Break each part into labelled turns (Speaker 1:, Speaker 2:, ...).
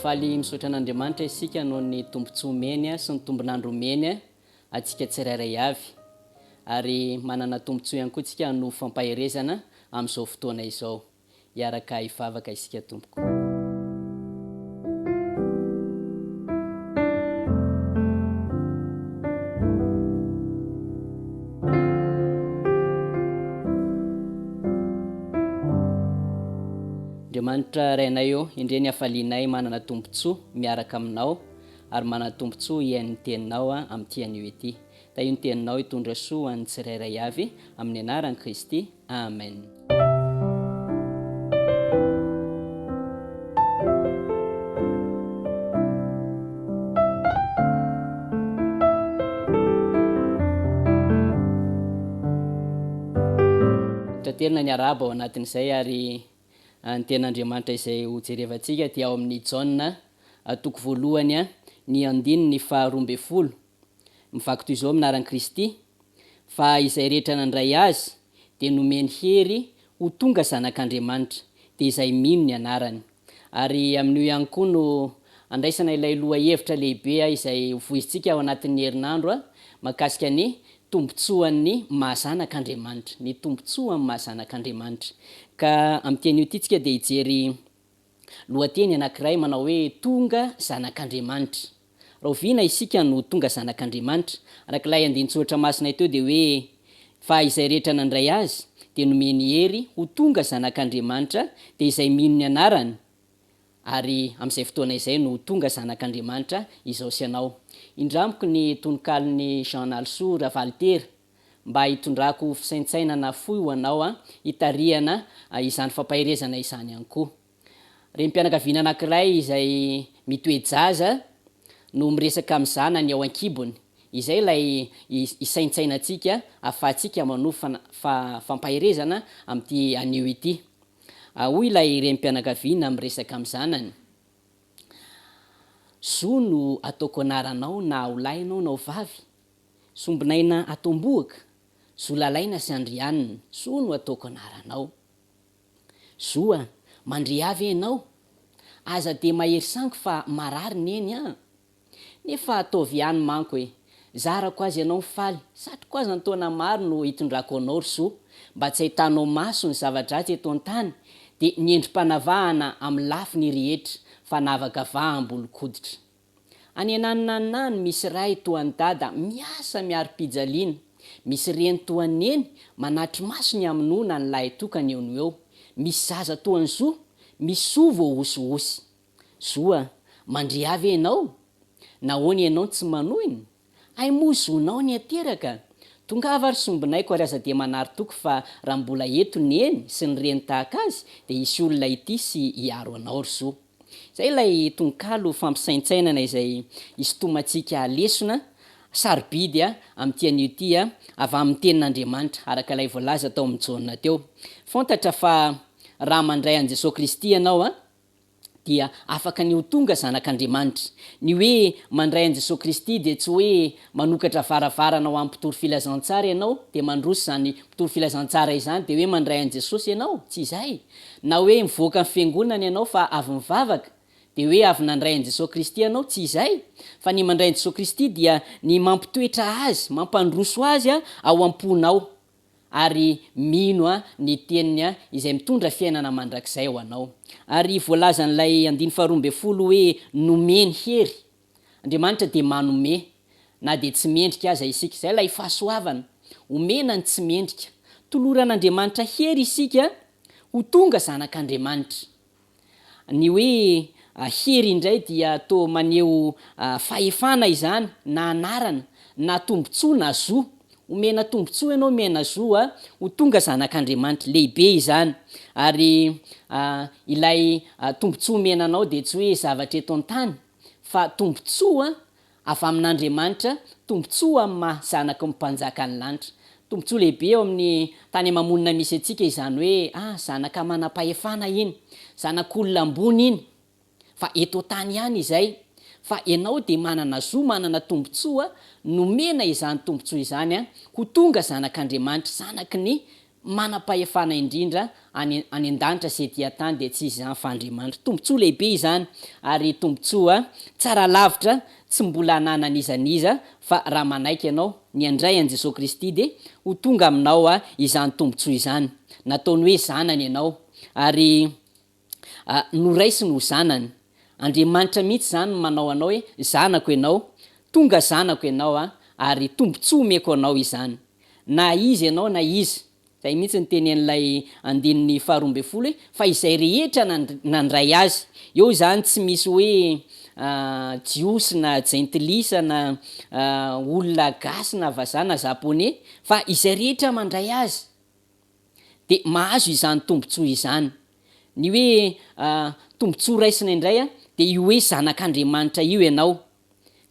Speaker 1: faly misaotra an'Andriamanitra isika noho ny tombontsoa omeny sy ny tombon'andro omeny antsika tsirairay avy. Ary manana tombontsoa ihany koa isika hanova fampaherezana amin'izao fotoana izao. hiaraka hivavaka isika tompoko. Andriamanitra Rainay ô, endrey ny hafalianay manana tombon-tsoa miaraka aminao ary manana tombon-tsoa hihaino ny Teninao amin'ity anio ity. Tahio ny teninao hitondra soa ho an'ny tsirairay avy, amin'ny anaran'i Kristy, amen. Taterina ny arahaba ao anatin'izay ary ny Tenin'Andriamanitra izay hojerevantsika dia ao amin'ny Jaona toko voalohany, ny andininy faharoa ambin'ny folo Mivaky toy izao amin'ny anaran'i Kristy, fa izay rehetra nandray Azy dia nomeny hery ho tonga zanak'Andriamanitra, dia izay mino ny anarany. Ary amin'io ihany koa no andraisana ilay lohahevitra lehibe izay hovoizintsika ao anatin'ny herinandro mahakasika ny tombontsoan'ny maha zanak'Andriamanitra, ny tombontsoan'ny maha zanak'Andriamanitra. Ka amin'ity anio ity isika dia hijery Lohateny anankiray manao hoe Tonga zanak'Andriamanitra. Rahoviana isika no tonga zanak'Andriamanitra? Araka ilay andinin-tsoratra masinay teo dia hoe, Fa izay rehetra nandray Azy, dia nomeny hery ho tonga zanak'Andriamanitra, dia izay mino ny Anarany. Ary amin'izay fotoana izay no ho tonga zanak'Andriamanitra izao sy ianao. Indro amiko ny tononkalon'i Jean Nalisoa Ravalintera. mba hitondrako fisaintsainana fohy ho anao hitarihana izany fampaherezana izany ihany koa. Renim-pianakaviana anankiray izay mitoe-jaza no miresaka amin'ny zanany ao an-kibony. Izay ilay hisaintsainantsika ahafahantsika manohy fampaherezana amin'ity anio ity. Hoy ilay renim-pianakaviana miresaka amin'ny zanany, Zo no ataoko anaranao na ho lahy ianao na ho vavy, Sombinaina Atombohaka, Zolalaina sy Andrianina, Zo no ataoko anaranao. Zo a, mandria ve ianao? Aza dia mahery sangy fa marary neny an! Nefa ataovy ihany manko e! Zarako azy ianao mifaly, satriko aza ny taona maro no hitondrako anao ry Zo, mba tsy ahitanao maso ny zava-dratsy eto an-tany, dia ny endri-panavahana amin'ny lafiny rehetra, fanavakavaham-bolon-koditra. Any ananonanona any misy ray toa an'i dada miasa miari-pijaliana, misy reny toa an'i neny manatri-maso ny hamonoana ny lahitokany eo no eo, misy zaza toa an'i zo, misy soa voahosihosy. Zo a! mandria ve ianao? Nahoana ianao tsy manohina? Hay moa zonao ny ateraka? Tongava ry sombinaiko ary aza dia manary toky fa raha mbola eto neny sy ny reny tahaka azy dia hisy olona hitia sy hiaro anao ry zo. Izay ilay tononkalo fampisaintsainana izay isintomantsika lesona sarobidy amin'ity anio ity avy amin'ny tenin'Andriamanitra araka ilay voalaza tao amin'i Jaona teo. Fantatra fa raha mandray an'i Jesoa Kristy ianao, dia afaka ny ho tonga zanak'Andriamanitra. Ny hoe mandray an'i Jesoa Kristy dia tsy hoe manokatra varavarana ho an'ny mpitory filazantsara ianao dia mandroso izany mpitory filazantsara izany dia hoe mandray an'i Jesosy ianao, tsy izay. Na hoe mivoaka ny fiangonana ianao fa avy nivavaka dia hoe avy nandray an'i Jesoa Kristy ianao, tsy izay. Fa ny mandray an'i Jesoa Kristy dia ny mampitoetra Azy, mampandroso Azy ao am-ponao, ary mino ny teniny izay mitondra fiainana mandrakizay ho anao. Ary voalazan'ilay andiny faharoa ambin'ny folo hoe nomeny hery. Andriamanitra dia manome na dia tsy mendrika aza isika. Izay ilay fahasoavana, omena ny tsy mendrika. Toloran'Andriamanitra hery isika ho tonga zanak'Andriamanitra. Ny hoe hery indray dia toa maneho fahefana izany na anarana na tombontsoa na zo. Omena tombontsoa ianao, omena zo ho tonga zanak'Andriamanitra. Lehibe izany. Ary ilay tombontsoa omena anao dia tsy hoe zavatra eto an-tany fa tombontsoa Avy amin'Andriamanitra, tombontsoa amin'ny maha zanaky ny Mpanjakan'ny lanitra. Tombontsoa lehibe eo amin'ny tany ama-monina misy antsika izany hoe ah, zanaka manam-pahefana iny, zanak'olona ambony iny. Fa eto an-tany ihany izay. Fa ianao dia manana zo manana tombontsoa, nomena izany tombontsoa izany ho tonga zanak'Andriamanitra, zanaky ny manam-pahefana indrindra any any an-danitra sy ety an-tany dia tsy iza izany fa Andriamanitra. Tombontsoa lehibe izany ary tombontsoa tsara lavitra tsy mbola ananan'iza n'iza fa raha manaiky ianao ny handray an'i Jesoa Kristy dia ho tonga aminao izany tombontsoa izany. Nataony hoe zanany ianao ary. noraisiny ho zanany. Andriamanitra mihitsy izany no manao anao hoe zanako ianao, tonga zanako ianao ary tombontsoa omeko anao izany. Na iza ianao na iza. Izay mihitsy no tenenin'ilay andininy faharoa ambin'ny folo hoe, fa izay rehetra nandray azy. Eo izany tsy misy hoe jiosy na jentilisa na olona gasy na vazaha na japoney fa izay rehetra mandray azy. dia mahazo izany tombontsoa izany. Ny hoe tombontsoa raisina indray dia io hoe zanak'Andriamanitra io ianao.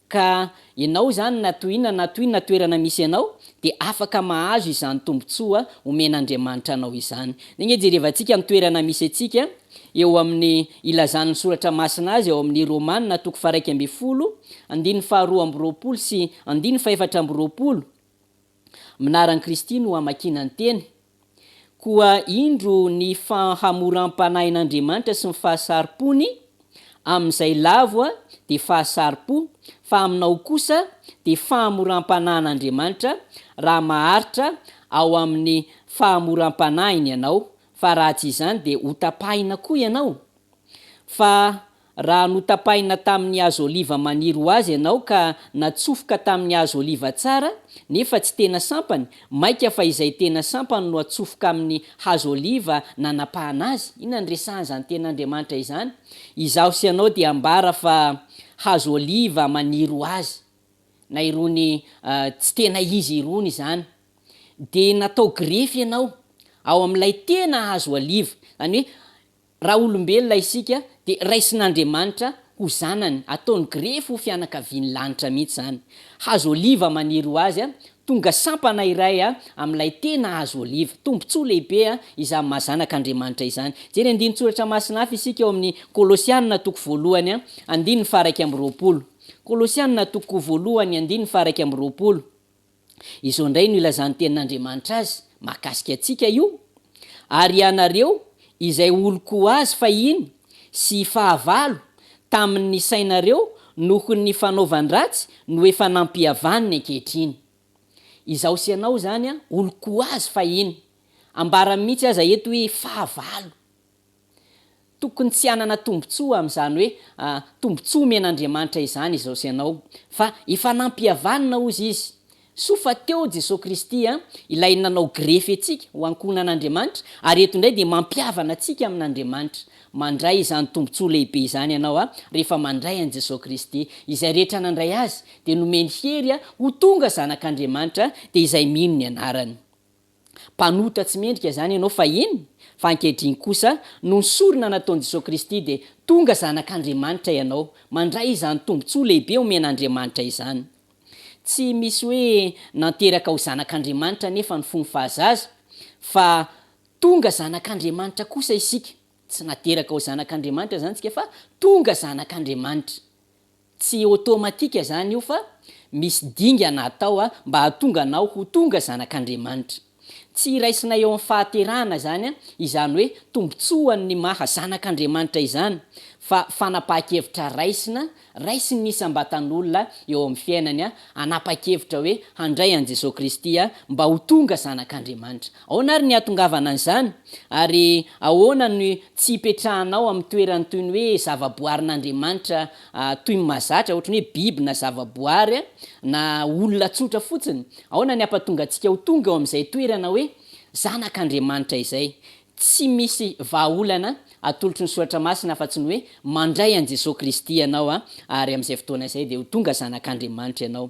Speaker 1: Ka ianao izany na toy inona na toy inona toerana misy anao dia afaka mahazo izany tombontsoa omen'Andriamanitra anao izany. Dia ange jerevantsika ny toerana misy antsika eo amin'ny ilazan'ny soratra masina azy ao amin'ny Romana toko faha-iraika ambin'ny folo, andininy faha-roa amby roapolo sy andininy faha-efatra amby roapolo. Mnaran'i Kristy no hamakiana ny teny, koa indro ny fahamoram-panahin'Andriamanitra sy ny fahasaripony, amin'izay lavo dia fahasaripo, fa aminao kosa dia fahamoram-panahin'Andriamanitra, raha maharitra ao amin'ny fahamoram-panahiny ianao, fa raha tsy izany dia hotapahina koa ianao, fa Raha notapahina tamin' ny hazo ôliva maniry ho azy ianao ka natsofoka tamin' ny hazo ôliva tsara, nefa tsy tena sampany, mainka fa izay tena sampany no atsofoka amin' ny hazo ôliva nanapahana azy. Inona no resahan' izany tena Andriamanitra izany? Izaho sy ianao dia ambara fa hazo ôliva maniry ho azy, na irony tsy tena izy irony izany. Dia natao grefy ianao ao amin' ilay tena hazo ôliva, izany hoe, Raha olombelona isika dia raisin'Andriamanitra ho zanany, ataony grefy ho fianakaviany lanitra mihitsy izany. Hazo oliva maniry ho azy, tonga sampana iray amin'ilay tena hazo oliva. Tombontsoa lehibe izany maha zanak'Andriamanitra izany. Jery andinin-tsoratra masina hafa isika ao amin'ny Kolosianina toko voalohany andininy faha iraika amby roapolo. Kolosianina toko voalohany andininy faha iraika amby roapolo. Izao indray no ilazan'ny Tenin'Andriamanitra azy mahakasika antsika io, Ary ianareo, izay oloko ho azy fahiny, sy fahavalo tamin'ny sainareo noho ny fanaovan-dratsy no efa nampihavaniny ankehitriny. Izaho sy ianao izany, oloko ho azy fahiny. Ambarany mihitsy aza eto hoe fahavalo. Tokony tsy hanana tombontsoa amin'izany hoe tombontsoa omen'Andriamanitra izany izao sy ianao, fa efa nampihavanina hozy izy. Soa fa teo Jesoa Kristy, ilay nanao grefy antsika ho ankohonan'Andriamanitra, ary eto indray dia mampihavana antsika amin'Andriamanitra. Mandray izany tombontsoa lehibe izany ianao rehefa mandray an'i Jesoa Kristy. Izay rehetra nandray Azy dia nomeny hery ho tonga zanak'Andriamanitra, dia izay mino ny anarany. mpanota tsy mendrika izany ianao fahiny, fa ankehitriny kosa noho ny sorona nataon'i Jesoa Kristy dia tonga zanak'Andriamanitra ianao, mandray izany tombontsoa lehibe omen'Andriamanitra izany. Tsy misy hoe nanteraka ho zanak'Andriamanitra anefa ny fony fahazaza, fa tonga zanak'Andriamanitra kosa isika, tsy nateraka ho zanak'Andriamanitra izany isika fa tonga zanak'Andriamanitra. Tsy automatique zany io fa misy dingana atao mba hahatonga anao ho tonga zanak'Andriamanitra. Tsy raisinay eo amin'ny fahaterahana izany izany hoe tombotsoan'ny maha zanak'Andriamanitra izany fa fanapahan-kevitra raisina raisin'ny isam-batan'olona eo amin'ny fiainany hanapa-kevitra hoe handray an'i Jesoa Kristy mba ho tonga zanak'Andriamanitra. Ahoana ary ny hahatongavana an'izany? Ary ahoana ny tsy hipetrahanao amin'ny toerany toy ny hoe zavaboarin'Andriamanitra toy ny mahazatra, ohatry ny hoe biby na zavaboary na olona tsotra fotsiny? Ahoana ny hampatonga antsika ho tonga eo amin'izay toerana hoe zanak'Andriamanitra izay? Tsy misy vahaolana atolotry ny Soratra Masina afa-tsy ny hoe mandray an'i Jesoa Kristy ianao ary amin'izay fotoana izay dia ho tonga zanak'Andriamanitra ianao.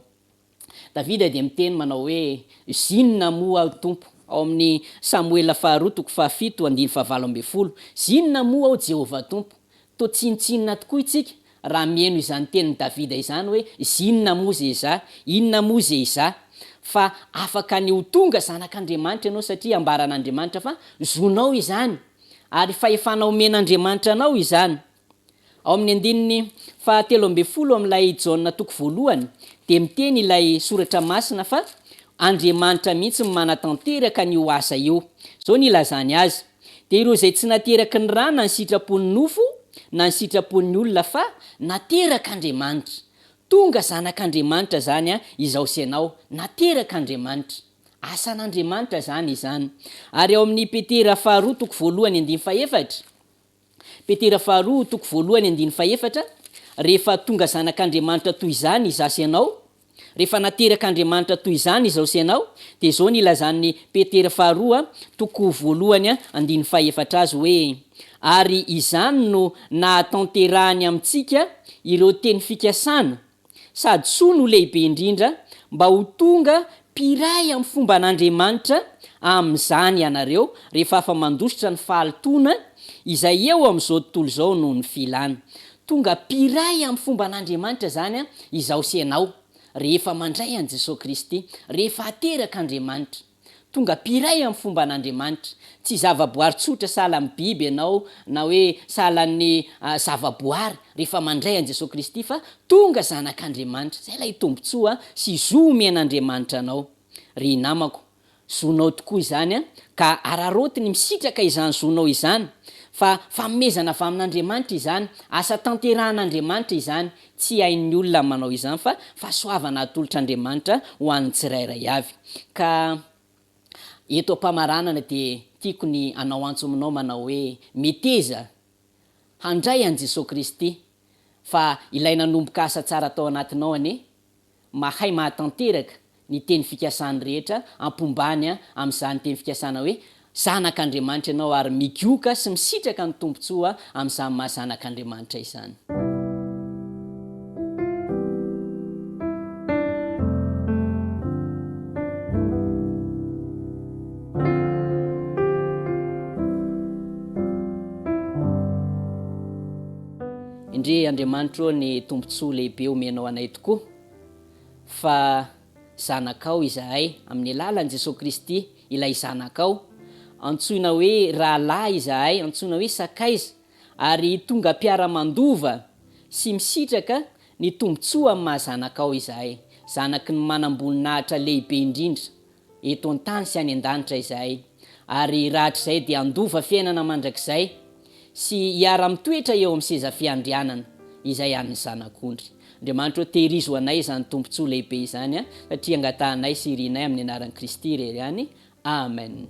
Speaker 1: Davida dia miteny manao hoe, Zinona moa aho, Tompo? ao amin'ny Samoela Faharoa toko fahafito andiny fahavalo ambin'ny folo, Zinona moa aho, Jehovah Tompo? Toa tsinontsinona tokoa isika raha mihaino izany tenin'i Davida izany hoe, Zinona moa ze izaho? Inona moa ze izaho? Fa afaka ny ho tonga zanak'Andriamanitra ianao satria ambaran'Andriamanitra fa zonao izany, ary fahefana omen'Andriamanitra anao izany. Ao amin'ny andininy fahatelo ambin'ny folo amin'ilay Jaona toko voalohany dia miteny ilay soratra masina fa Andriamanitra mihitsy no manatanteraka an'io asa io. Izao no ilazany azy, Dia ireo izay tsy nateraky ny ra na ny sitrapon'ny nofo na ny sitrapon'ny olona fa naterak'Andriamanitra. Tonga zanak'Andriamanitra izany izaho sy ianao, naterak'Andriamanitra. Asan'Andriamanitra izany izany. Ary ao amin'ny Petera faharoa toko voalohany andininy fahefatra, Petera faharoa toko voalohany andiny fahefatra, Rehefa tonga zanak'Andriamanitra toy izany izaho sy ianao, rehefa naterak'Andriamanitra toy izany izaho sy ianao, dia izao ny ilazan'i Petera faharoa toko voalohany andiny fahefatra azy hoe, Ary izany no nahatanterahany amintsika ireo teny fikasana, sady soa no lehibe indrindra, mba ho tonga mpiray amin'ny fomban'Andriamanitra amin'izany ianareo, rehefa afa-mandositra ny fahalotoana izay eo amin'izao tontolo izao noho ny filana. Tonga mpiray amin'ny fomban'Andriamanitra izany izaho sy ianao, rehefa mandray an'i Jesoa Kristy, rehefa aterak'Andriamanitra. Tonga mpiray amin'ny fomban'Andriamanitra. Tsy zavaboary tsotra sahala amin'ny biby ianao na hoe sahala amin'ny zavaboary rehefa mandray an'i Jesoa Kristy fa tonga zanak'Andriamanitra. Izay ilay tombontsoa sy zo omen'Andriamanitra anao. Ry namako, zonao tokoa izany ka araraoty ny misitraka izany zonao izany fa fanomezana avy amin'Andriamanitra izany, asa tanterahan'Andriamanitra izany, Tsy hain'ny olona ny manao izany fa fahasoavana atolotr'Andriamanitra ho an'ny tsirairay avy. Ka eto am-pamaranana dia tiako ny hanao antso aminao manao hoe, Meteza handray an'i Jesoa Kristy fa ilay nanomboka asa tsara tao anatinao anie Mahay mahatanteraka ny teny fikasany rehetra ampombany amin'izany teny fikasana hoe zanak'Andriamanitra ianao ary migioka sy misitraka ny tombontsoa amin'izany maha zanak'Andriamanitra izany. Endrey Andriamanitra ô ny tombontsoa lehibe omenao anay tokoa fa zanakao izahay, amin'ny alalan'i Jesoa Kristy, ilay Zanakao. Antsoina hoe rahalahy izahay, antsoina hoe sakaiza, ary tonga mpiara-mandova sy misitraka ny tombontsoa amin'ny maha-zanakao izahay, zanaky ny manam-boninahitra lehibe indrindra eto an-tany sy any an-danitra izahay, ary rahatrizay dia handova fiainana mandrakizay sy hiara-mitoetra eo amin'ny seza fiandrianana izay an'ny Zanak'ondry. Andriamanitra ô, tehirizo anay izany tombontsoa lehibe izany, satria angatahanay sy irinay amin'ny anaran'i Kristy irery ihany. Amen.